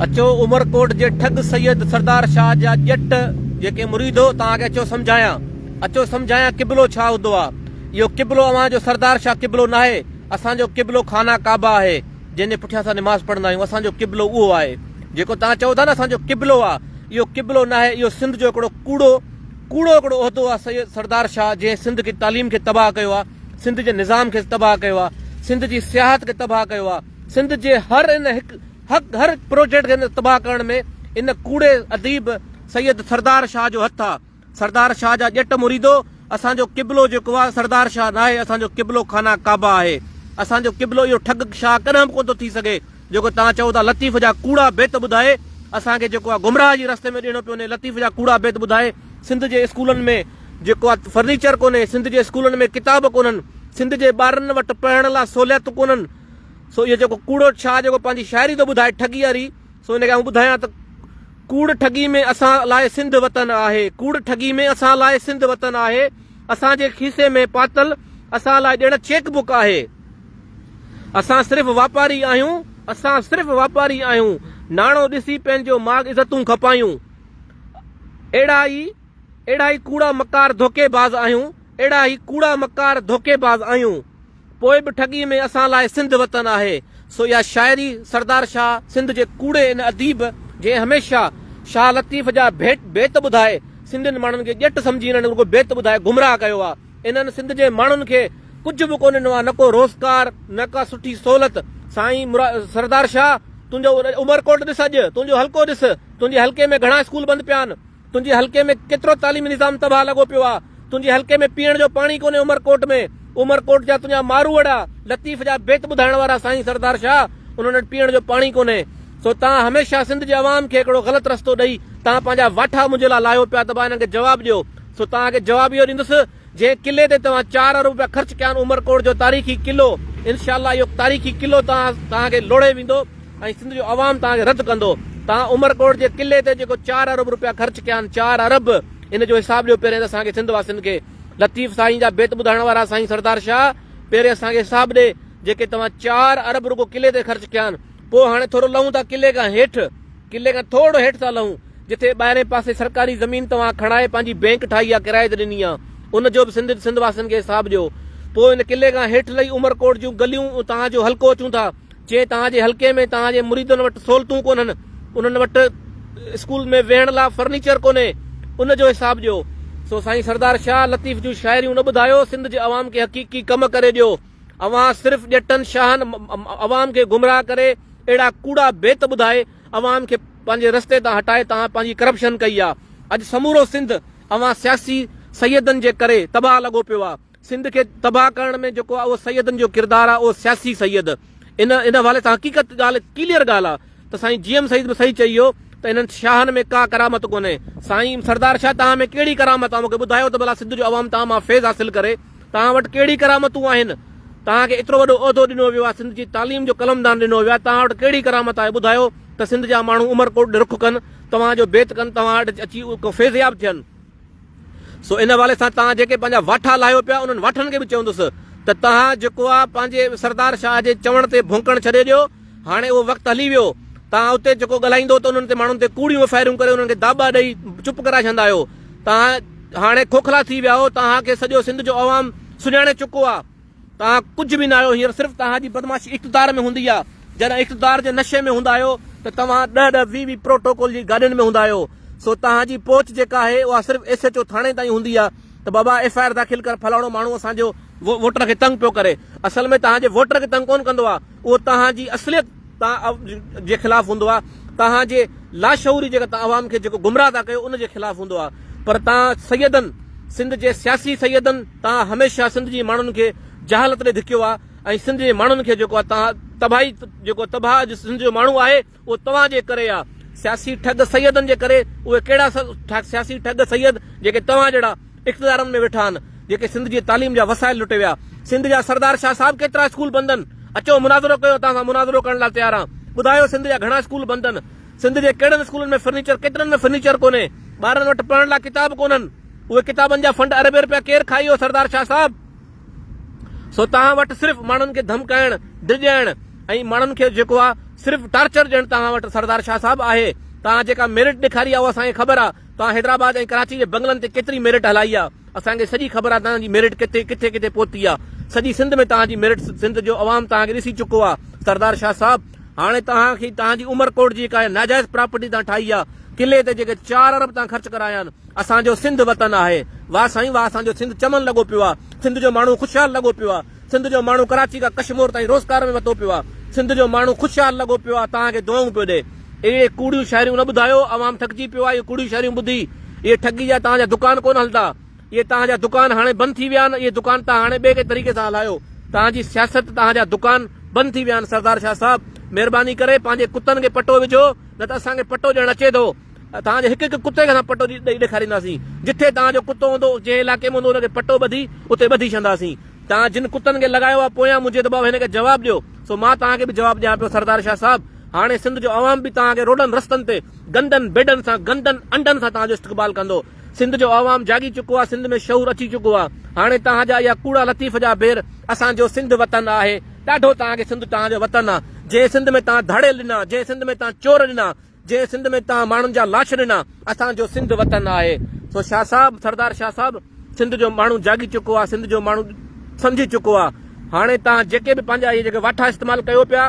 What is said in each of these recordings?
اچو عمرڪوٽ جي ٺڳ سيد سردار شاهه جا ڄٽ جيڪي مريد هو توهان کي اچو سمجهايان اچو سمجهايان قبلو ڇا هوندو آ اهو قبلو اوهان جو سردار شاهه قبلو ناهي اسان جو قبلو خانه ڪعبه آهي جنهن جي پٺيان اسان نماز پڙهندا آهيون اسان جو قبلو اهو آهي جيڪو توهان چئو ٿا نه اسان جو قبلو آ اهو قبلو ناهي اهو سنڌ جو هڪڙو ڪوڙو ڪوڙو هڪڙو عهدو آ سيد سردار شاهه جنهن سنڌ جي تعليم کي تباهه ڪيو آ سنڌ جي نظام کي تباهه ڪيو آ سنڌ جي سياحت کي تباهه ڪيو آ سنڌ جي هر ان هڪ هڪ هر هڪ پروجيڪٽ کي ان تباهه ڪرڻ ۾ ان ڪوڙي اديب سيد سردار شاهه جو هٿ آ سردار شاهه جا ڄٽ مريدو اسان جو قبلو جيڪو آ سردار شاهه ناهي اسان جو قبلو خانه ڪعبه آهي اسان جو قبلو اهو ٺڳ شاهه ڪڏهن به ڪونه ٿو ٿي سگهي جيڪو توهان چئو ٿا لطيف جا ڪوڙا بيت ٻڌائي اسان کي جيڪو آ گمراهه جي رستي ۾ ڏيڻو پيو وڃي لطيف جا ڪوڙا بيت ٻڌائي سنڌ جي اسڪولن ۾ جيڪو آ فرنيچر ڪونهي سنڌ جي اسڪولن ۾ ڪتاب ڪونهن سنڌ جي ٻارن وٽ پڙهڻ لا سهوليتون ڪونهن سو اهو جيڪو ڪوڙو شاهه جيڪو پنهنجي شاعري ٿو ٻڌائي ٺڳي واري سو ان کي آئون ٻڌايان ته ڪوڙ ٺڳي ۾ اسان لاء سنڌ وطن آهي ڪوڙ ٺڳي ۾ اسان لاء سنڌ وطن آهي اسان جي کيسي ۾ پاتل اسان لاء ڄڻ چيڪ بڪ آهي اسان صرف واپاري آهيون اسان صرف واپاري آهيون ناڻو ڏسي پنهنجو ماڳ عزتون کپايون اهڙا ئي اهڙا ئي ڪوڙا مڪار ڌوڪي باز آهيون اهڙا ئي ڪوڙا مڪار ڌوڪي باز آهيون پوء به ٺڳي ۾ اسان لاء سنڌ وطن آهي. سو اها شاعري سردار شاهه سنڌ جي ڪوڙي ان اديب جنهن هميشه شاهه لطيف جا ڀيٽ بيت ٻڌائي سنڌين ماڻهن کي ڄٽ سمجهي انهن رڳو بيت ٻڌائي گمراهه ڪيو آ انهن سنڌ جي ماڻهن کي ڪجهه به ڪونه ڏنو آ نه ڪو روزگار نه ڪا سٺي سهولت سائين سردار شاهه تنهنجو عمرڪوٽ ڏس اڄ تنهنجو حلقو ڏس تنهنجي حلقي ۾ گهڻا اسڪول بند پيا آهن. تنهنجي حلقي ۾ ڪيترو تعليمي نظام تباهه لڳو پيو آ تنهنجي حلقي ۾ پيئڻ جو پاڻي ڪونهي عمر ڪوٽ ۾ عمر ڪوٽ جا تنهنجا ماروئڙا لطيف جا بيت ٻڌائڻ وارا سائين سردار شاهه انهن وٽ پيئڻ جو پاڻي ڪونهي سو تان هميشه سنڌ جي عوام کي هڪڙو غلط رستو ڏئي تان پنهنجا واٺا منهنجي لا لاهيو پيا ته با انهن کي جواب ڏيو سو تان کي جواب اهو ڏيندس جنهن قلعي تي توهان چار ارب رپيا خرچ ڪيا آهن عمرڪوٽ جو تاريخي قلعو انشاء الله اهو تاريخي قلعو توهان کي لوڙهي ويندو ۽ سنڌ جو عوام توهان کي رد ڪندو توهان عمرڪوٽ جي قلعي تي جيڪو چار ارب رپيا خرچ ڪيا آهن چار ارب ان جو حساب ڏيو پهرين ته اسان کي سنڌ واسين کي لطيف سائين جا بيت ٻڌائڻ وارا سائين سردار شاهه پهرين اسان کي حساب ڏي جيڪي توهان چار ارب رڳو قلعي تي خرچ ڪيا آهن. پوء هاڻي ٿورو لهون ٿا قلعي کان هيٺ. قلعي کان ٿورڙو هيٺ ٿا لهون، جتي ٻاهرئين پاسي سرڪاري زمين توهان کڻائي پنهنجي بئنڪ ٺاهي يا ڪرائي تي ڏني آ، ان جو به سنڌ سنڌ واسين کي حساب ڏيو. پوء ان قلعي کان هيٺ لهي عمرڪوٽ جون گليون ۽ توهان جو حلقو اچون ٿا. جي توهان جي حلقي ۾ توهان جي مريدن وٽ سهولتون ڪونهن، انهن وٽ اسڪول ۾ ويهڻ لا فرنيچر ڪونهي، ان جو حساب ڏيو. سو سائين سردار شاهه لطيف جون شاعريون نه ٻڌايو، سنڌ جي عوام کي حقيقي ڪم ڪري ڏيو. اوهان صرف ڄٽن شاهن عوام کي گمراهه ڪري اهڙا ڪوڙا بيت ٻڌائي عوام کي پنهنجي رستي تان هٽائي توهان پنهنجي ڪرپشن ڪئي آ اڄ سمورو سنڌ اوهان سياسي سيدن جي ڪري تباهه لڳو پيو آ سنڌ کي تباهه ڪرڻ ۾ جيڪو آ اهو سيدن جو ڪردار آ اهو سياسي سيد ان ان حوالي سان حقيقت ڳالهه ڪليئر ڳالهه آ. ته سائين جي ايم سعيد به صحيح چئي ويو ته انهن شاهن ۾ ڪا ڪرامت ڪونهي. سائين سردار شاهه توهان ۾ ڪهڙي ڪرامت آ مونکي ٻڌايو ته ڀلا سنڌ جو عوام توهان مان فيض حاصل ڪري توهان وٽ ڪهڙي ڪرامتون آهن توهان کي ايترو وڏو عهدو ڏنو ويو آ سنڌ جي تعليم جو قلمدان ڏنو ويو آ توهان وٽ ڪهڙي ڪرامت آهي ٻڌايو ته سنڌ جا ماڻهو عمرڪوٽ ڏي رخ ڪن توهان جو بيت ڪن توهان وٽ اچي ڪو فيضياب ٿين. سو ان حوالي سان توهان جيڪي پنهنجا واٺا لاهيو پيا انهن واٺن کي به چوندس ته توهان جيڪو آ پنهنجي سردار شاهه جي چوڻ تي ڀونڪڻ ڇڏي ڏيو هاڻي اهو وقت هلي ويو توهان اتي جيڪو ڳالهائيندو ته انهن تي ماڻهن تي ڪوڙيون ڦيرون ڪري انهن کي داٻا ڏئي چپ ڪرائي ڇڏندا آهيو توهان هاڻي کوکلا ٿي ويا آهو توهان کي سڄو سنڌ جو عوام سڃاڻي چڪو آ. توهان ڪجهه به ناهيو هينئر صرف توهان جي بدمعاشي اقتدار ۾ هوندي آ جڏهن اقتدار جي نشي ۾ هوندا آهيو ته توهان ڏهه ڏهه ويهه ويهه پروٽوڪول جي گاڏين ۾ هوندا آهيو سو توهان جي پهچ جيڪا آهي اها صرف ايس ايڇ او ٿاڻي تائين هوندي آ ته بابا ايف آء آر داخل ڪر فلاڻو ماڻهو اسان جو ووٽر کي تنگ پيو ڪري اصل ۾ توهان جي ووٽر کي تنگ ڪون ڪندو آ اهو توهان جي اصليت توهان جي خلاف هوندو آهي توهان جي لاشعوري جيڪا توهان عوام کي جيڪو گمراهه ٿا ڪيو ان جي خلاف هوندو آهي پر توهان سيدن سنڌ جي سياسي سيدن توهان هميشه سنڌ جي ماڻهن کي جهالت ڏي ڌڪيو آهي ۽ سنڌ جي ماڻهن کي جيڪو آهي توهان تباهي جيڪو تباهه اڄ سنڌ جو ماڻهو آهي اهو توهان جي ڪري آهي سياسي ٺڳ سيدن جي ڪري اهي ڪهڙا سياسي ٺڳ سيد جيڪي توهان جهڙا اقتدارن ۾ ويٺا آھن جيڪي سنڌ جي تعليم جا وسائل لٽي ويا سنڌ جا سردار شاھ صاحب ڪيترا اسڪول بند ان اچو مناظرو ڪيو توھان سان مناظرو ڪرڻ لاء تيار آھان ٻڌايو سنڌ جا گھڻا اسڪول بند ان سنڌ جي ڪھڙن اسڪولن ۾ فرنيچر ڪيترن ۾ فرنيچر ڪونھي ٻارن وٽ پڙھڻ لاء ڪتاب ڪونھن اھي ڪتابن جا فنڊ اربين روپيا ڪير کائي ويو سردار شاھ صاحب سو توھان وٽ صرف ماڻھن کي ڌمڪائڻ ڊڄائڻ ۽ ماڻھن کي جيڪو آ صرف ٽارچر ڏيڻ توھان وٽ سردار شاھ صاحب آھي توھان جيڪا ميرٽ ڏيکاري آ اھا اسان کي خبر آ توهان حيدرآباد ۽ ڪراچي جي بنگلن تي ڪيتري ميرٽ هلائي آ اسان کي سڄي خبر آ توهان جي ميرٽ ڪٿي ڪٿي ڪٿي پهتي آ سڄي سنڌ ۾ توهان جي ميرٽ سنڌ جو عوام توهان کي ڏسي چڪو آ سردار شاهه صاحب هاڻي توهان کي توهان جي عمر ڪوٽ جي ڪا ناجائز پراپرٽي توهان ٺاهي آ قلعي تي جيڪي چار ارب توهان خرچ ڪرايا آهن اسان جو سنڌ وطن آهي واه سائين واه اسان جو سنڌ چمن لڳو پيو آ سنڌ جو ماڻهو خوشحال لڳو پيو آ. سنڌ جو ماڻهو ڪراچي کان ڪشمور تائين روزگار ۾ وتو پيو آ سنڌ جو ماڻهو خوشحال لڳو پيو آ توهان کي دعائون پيو ڏي اهڙي ڪوڙيون شاعريون نه ٻڌايو عوام ٿڪجي پيو آ اهي ڪوڙيون شاعريون ٻڌي اهي ٺڳي جا توهان جا دڪان ڪونه هلندا اهي توهان جا دڪان هاڻي بند ٿي ويا آهن اهي دڪان توهان هاڻي ٻئي ڪنهن طريقي سان هلايو توهان جي سياست توهان جا دڪان بند ٿي ويا آهن سردار شاهه صاحب مهرباني ڪري پنهنجي ڪتن کي پٽو وجهو نه ته اسان کي پٽو ڏيڻ اچي ٿو. توهان جي هڪ هڪ ڪتي کي اسان پٽو ڏئي ڏيکارينداسين. جتي توهان جو ڪتو هوندو، جنهن علائقي ۾ هوندو ان کي پٽو ٻڌي اتي ٻڌي ڇڏنداسين. توهان جن ڪتن کي لڳايو آهي پويان منهنجي دٻاء هن کي جواب ڏيو. سو مان توهان کي به جواب ڏيان پيو سردار شاهه صاحب هاڻي سنڌ جو عوام به توهان کي روڊن رستن تي گندن بيڊن سان گندن انڊن سان توهان جو استقبال ڪندو. سنڌ جو عوام جاڳي چڪو آهي سنڌ ۾ شعور اچي چڪو آهي. هاڻي توهان جا اها ڪوڙا لطيف جا بير اسان جو سنڌ وطن آهي. ڏاڍو توهان کي سنڌ توهان جو وطن آهي. جنهن سنڌ ۾ توهان ڌاڙيل ڏنا جنهن سنڌ ۾ توهان چور ڏنا. جنهن سنڌ ۾ توهان ماڻهن جا لاش ڏنا، اسان جو سنڌ وطن آهي. سو شاهه صاحب، سردار شاهه صاحب، سنڌ جو ماڻهو جاڳي چڪو آهي، سنڌ جو ماڻهو سمجهي چڪو آهي. هاڻي توهان جيڪي به پنهنجا اهي جيڪي واٺا استعمال ڪيو پيا،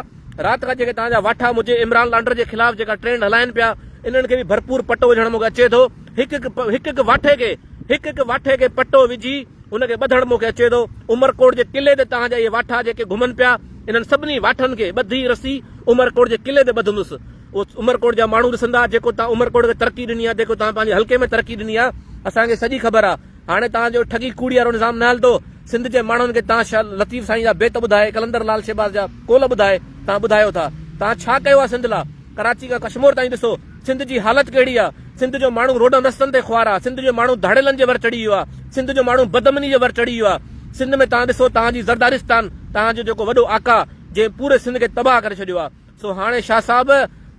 رات کان جيڪي توهان جا واٺا منهنجي عمران لانڊر جي خلاف جيڪا ٽرينڊ هلائين پيا، انهن کي به ڀرپور پٽو وجهڻ مون کي اچي ٿو. هڪ هڪ هڪ هڪ واٺي کي هڪ هڪ واٺي کي پٽو وجهي ان کي ٻڌڻ مون کي اچي ٿو. عمرڪوٽ جي قلعي تي توهان جا اهي واٺا جيڪي گهمن پيا، انهن سڀني واٺن کي ٻڌي رسي عمرڪوٽ جي قلعي تي ٻڌندس. اهو عمرڪوٽ جا ماڻهو ڏسندا جيڪو توهان عمرڪوٽ کي ترقي ڏني آهي، جيڪو توهان پنهنجي حلقي ۾ ترقي ڏني آهي، اسان کي سڄي خبر آهي. هاڻي توهان جو ٺڳي ڪوڙي وارو نظام نه هلندو. سنڌ جي ماڻهن کي توهان شاهه لطيف سائين جا بيت ٻڌائي، قلندر لال شهباز جا قول ٻڌائي توهان ٻڌايو ٿا. توهان ڇا ڪيو آهي سنڌ لا؟ ڪراچي کان ڪشمور تائين ڏسو. سنڌ جي حالت ڪهڙي آ؟ سنڌ جو ماڻهو روڊن رستن تي خوار آ، سنڌ جو ماڻهو ڌاڙيلن جي ور چڙهي ويو آ، سنڌ جو ماڻهو بدامني جي ور چڙهي ويو آ، سنڌ ۾ توهان ڏسو توهان جي زردارستان توهان جو جيڪو وڏو آقا جنهن پوري سنڌ کي تباهه ڪري ڇڏيو آ، سو هاڻي شاهه صاحب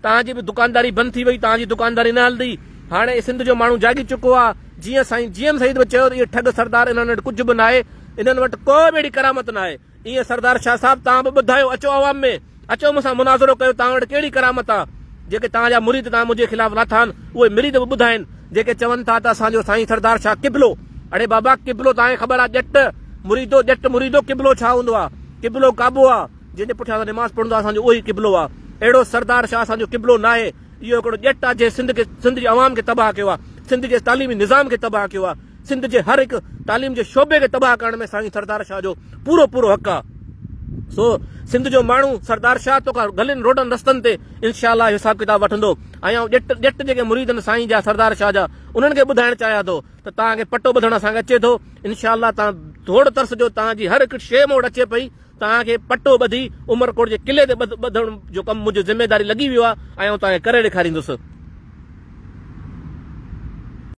توهان جي به دڪانداري بند ٿي وئي توهان جي دڪانداري نه هلندي، هاڻي سنڌ جو ماڻهو جاڳي چڪو آ، جيئن سائين جي ايم سيد به چيو ته اهي ٺڳ سردار انهن وٽ ڪجهه به ناهي، انهن وٽ ڪو به اهڙي ڪرامت ناهي. ايئن سردار شاهه صاحب توهان به ٻڌايو اچو عوام ۾ اچو مون سان مناظرو ڪيو توهان وٽ ڪهڙي ڪرامت آ جيڪي توهان جا مريد توهان منهنجي خلاف لاٿان اهي مريد به ٻڌائين جيڪي چون ٿا ته اسان جو سائين سردار شاهه قبلو اڙي بابا قبلو توهان کي خبر آ ڄٽ مريدو ڄٽ مريدو قبلو ڇا هوندو آ قبلو ڪعبو آ جنهن جي پٺيان اسان نماز پڙهندو آ اسان جو اهو ئي قبلو آ اهڙو سردار شاهه اسان جو قبلو ناهي. اهو هڪڙو ڄٽ آ جنهن سنڌ کي سنڌ جي عوام کي تباهه ڪيو آ سنڌ جي تعليمي نظام کي تباهه ڪيو آ سنڌ جي هر هڪ تعليم جي شعبي کي تباهه ڪرڻ ۾ سائين سردار شاهه جو پورو پورو حق آ سو سنڌ جو ماڻهو سردار شاهه تو کان گلين روڊن رستن تي انشاء الله حساب کتاب وٺندو ۽ آئون ڄٽ ڄٽ جيڪي مريد آهن سائين جا سردار شاهه جا انهن کي ٻڌائڻ چاهيان ٿو ته تان کي پٽو ٻڌڻ اسان کي اچي ٿو انشاء الله تان ٿورڙ ترس جو تان جي هر هڪ شي مون وٽ اچي پئي توهان کي پٽو ٻڌي عمرڪوٽ جي قلعي تي ٻڌڻ جو ڪم منهنجي ذميواري لڳي ويو آهي ۽ آئون توهان کي ڪري ڏيکاريندس.